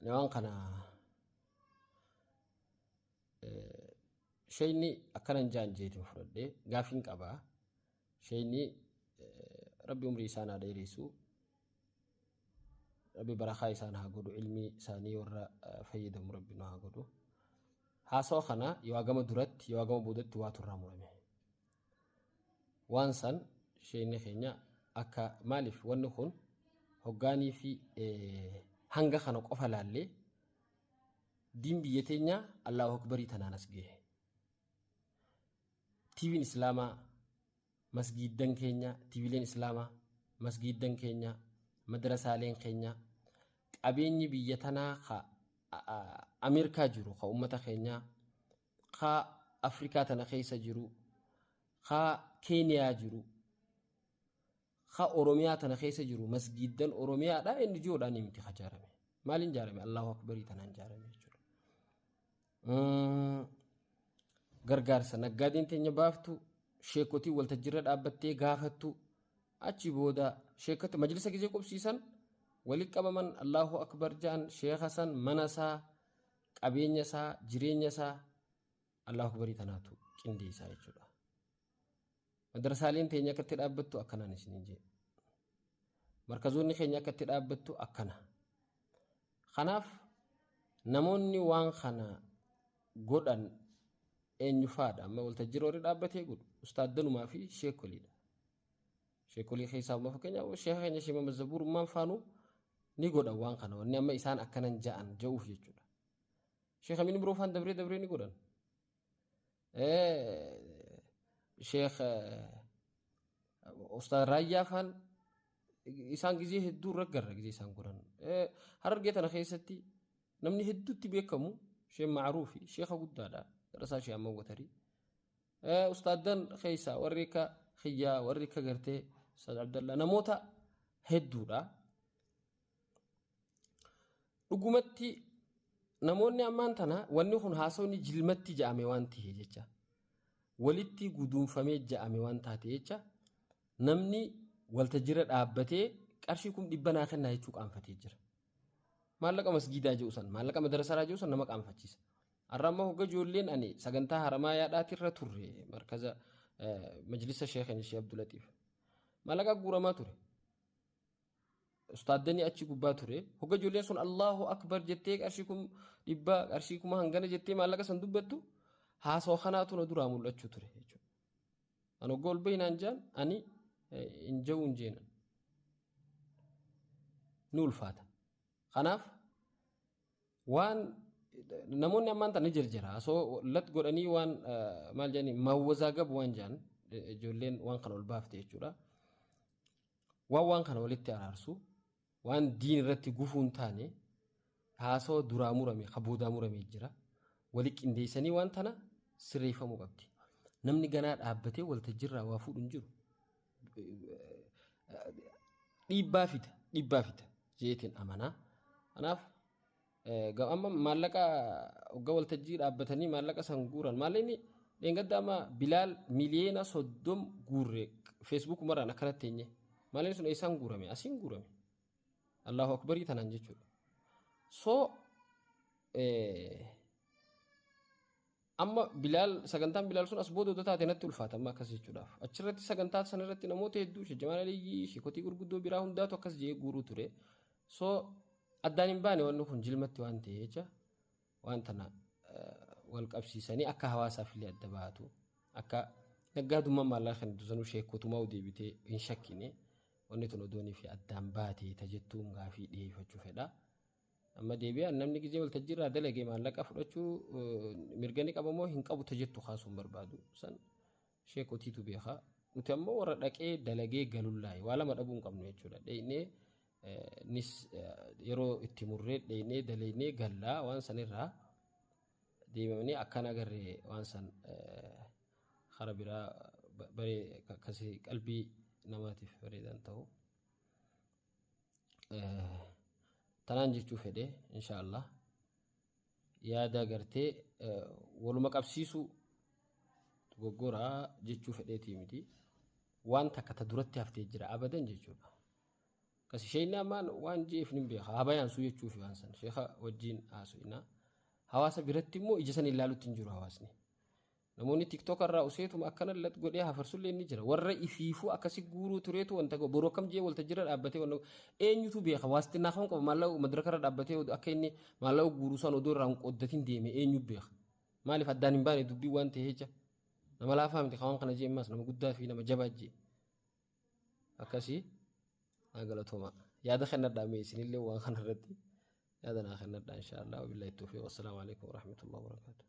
Ani waan kana shayni akkanan jaan jeetiin fudhadhee gaafiin qabaa. Shayni rabbi umrii isaan haa dheeressu. Rabbi barakaa isaan haa godhu ilmii isaanii warra fayyadamu rabbi nu haa godhu. Haasawa kana yoo hagama duratti yoo hagama boodatti waatu irraa murame. waan san sheekni keenya akka maaliif wanni kun hoggaanii fi hanga kana qofa laallee diin biyya teenya Allahu Akbarii tanaan as gahe. Tiiviin Islaamaa masgiiddan keenya, tiivileen Islaamaa masgiiddan keenya, madrasaaleen keenya qabeenyi biyya tanaa ka Ameerikaa jiru ka uummata keenyaa kaa Afrikaa tana keessa jiruu, kaa Keeniyaa jiru, kaa Oromiyaa tana keessa jiru masgiiddan Oromiyaadha NGO dhaanii miti ka jaarame. Maaliin jaarame? Allahu Akbarii tanaan jaarame jechuudha. Mm, Gargaarsa naggaadeen teenya baaftu, sheekotiin waltajjirra dhaabbattee gaafattu, achi booda sheekota majlisa gizee qubsiisan walitti qabaman Allahu Akbar jaan sheeka san mana isaa qabeenya isaa jireenya isaa Allahu Akbarii kanaatu qindeessaa jechuudha. Madrasaaleen teenya akka itti dhaabbattu akkanaan isiniin jee. Markazoonni keenya akka itti dhaabbattu akkana. Kanaaf namoonni waan kana godhan eenyufaadha amma waltajjii roorri dhaabbatee godhu ustaaddanumaa fi sheekoliidha. Sheekolii keessaa amma fakkeenyaaf sheeka keenya Sheekh Muhammad Zabuur ummaan faanuu ni godhan waan kana wanni amma isaan akkanan ja'an ja'uuf jechuudha. Sheekh Amin Biroo faan dabree dabree ni godhan. Sheekh Ustaaz Raayyaa faan isaan gizee hedduu irra garra gizee isaan godhan. Harargee tana keessatti namni hedduutti beekamu Sheekh Maaruufi Sheekha guddaadha. Darasaa Sheekh Amman Watarii. Ustaaddan keessaa warri akka kiyyaa warri akka gartee Ustaad Abdallaa namoota hedduudha. Dhugumatti namoonni ammaan tana wanni kun haasawni jilmatti ja'ame waan ta'e jecha walitti guduunfamee ja'ame waan taate jecha namni waltajjira dhaabbatee qarshii kum dhibba naa kennaa jechuu qaanfatee jira. Maallaqa masgiidaa jiru san maallaqa madarasaraa jiru san nama qaanfachiisa. Har'a ammoo hogga ijoolleen ani sagantaa Haramaayaadhaati irra turre markaza majlisa sheekan ishee Abdulatiif. Mallaqa guuramaa ture. Ustaaddanii achi gubbaa ture. Hogga ijoolleen sun Allahu Akbar jettee qarshii kum dhibba qarshii kuma hangana jettee maallaqa san dubbattu haasoo kanaatu na duraa mul'achuu ture jechuudha. Ani hogga ol bahinaan jaan ani hin jawuun jeenan. Ni ulfaata. Kanaaf Waan namoonni ammaan tana jirjira so lat godhanii waan eh, maal jedhani mawwazaa gab waan jedhan eh, ijoolleen waan kana ol baafte jechuudha. Waan waan kana walitti araarsu waan diin irratti gufuu hin taane haasoo duraa murame ka boodaa murame jira. Wali qindeessanii waan tana sirreeffamuu qabdi. Namni ganaa dhaabbatee waltajjirraa waa fuudhu hin jiru. dhiibbaa fida dhiibbaa fida jeetiin amanaa. Kanaaf amma maallaqa hoggaa waltajjii dhaabbatanii maallaqa san guuran maallaqni dheengadda amma bilaal miliyeena soddom guurre feesbuuk maraan akkanatti teenye maallaqni sun eessaan guurame asiin guurame allahu akbarii tanaan jechuudha. So Amma bilaal sagantaan bilaal sun as booda odoo taate natti ulfaata amma akkas jechuudhaaf. Achirratti sagantaa sana irratti namoota hedduu shajjamaan aliyyii sheekotii gurguddoo biraa hundaatu akkas jee guuruu ture. So addaan hin baane wanni kun jilmatti waan ta'e jecha waan tana wal qabsiisanii akka hawaasaaf illee adda baatu akka naggaadummaan maallaqa kan dusanuu sheekotumaa deebitee hin shakkine wanni tun odoonii fi addaan baate tajettuun gaafii dhiyeeffachuu fedha. Amma deebi'aan namni gizee waltajjii irraa dalage maallaqa fudhachuu mirga ni qabamoo hin qabu tajettu kaasuun barbaadu san sheekotiitu beekaa. Nuti ammoo warra dhaqee dalagee galullaa'e waa lama dhabuu hin qabnu jechuudha. Dheeynee nis yeroo itti murree dheeynee daleeynee gallaa waan sanirraa deemamanii akkaan agarre waan san hara biraa baree akkasii qalbii namaatiif bareedan ta'u. tanaan jechuu fedhe insha Allah yaada gartee waluma qabsiisuu dogoggora jechuu fedheetii miti waan takka ta duratti haftee jira abadan jechuudha kasi sheeyni ammaan waan jeef nin beeka haa bayaan suu jechuufi waan san sheeka wajjiin haasu'inaa hawaasa biratti immoo ija san ilaalutti hin jiru hawaasni Namoonni TikTok irraa useetuma akkana lat godhee hafarsullee ni jira. Warra ifiifuu akkasi guuruu tureetu wanta ga'u. Boroo kam jee walta jira dhaabbatee wanna eenyutu beeka waastinaa kam qaba maallaqa madaraka irra dhaabbatee akka inni maallaqa guuruu san odoo irraa hin qooddatin deeme eenyu beeka. Maaliif addaan hin baane dubbii waan ta'e jecha. Nama laafaa miti kawaan kana jee ammaas nama guddaa fi nama jabaa jee. akkasii naa galatoomaa yaada kennadhaa mee isinillee waan kana irratti yaada naa kennadhaa inshaa Allah wabillahi tawfiiq wassalaamu alaikum warahmatullahi wabarakaatuh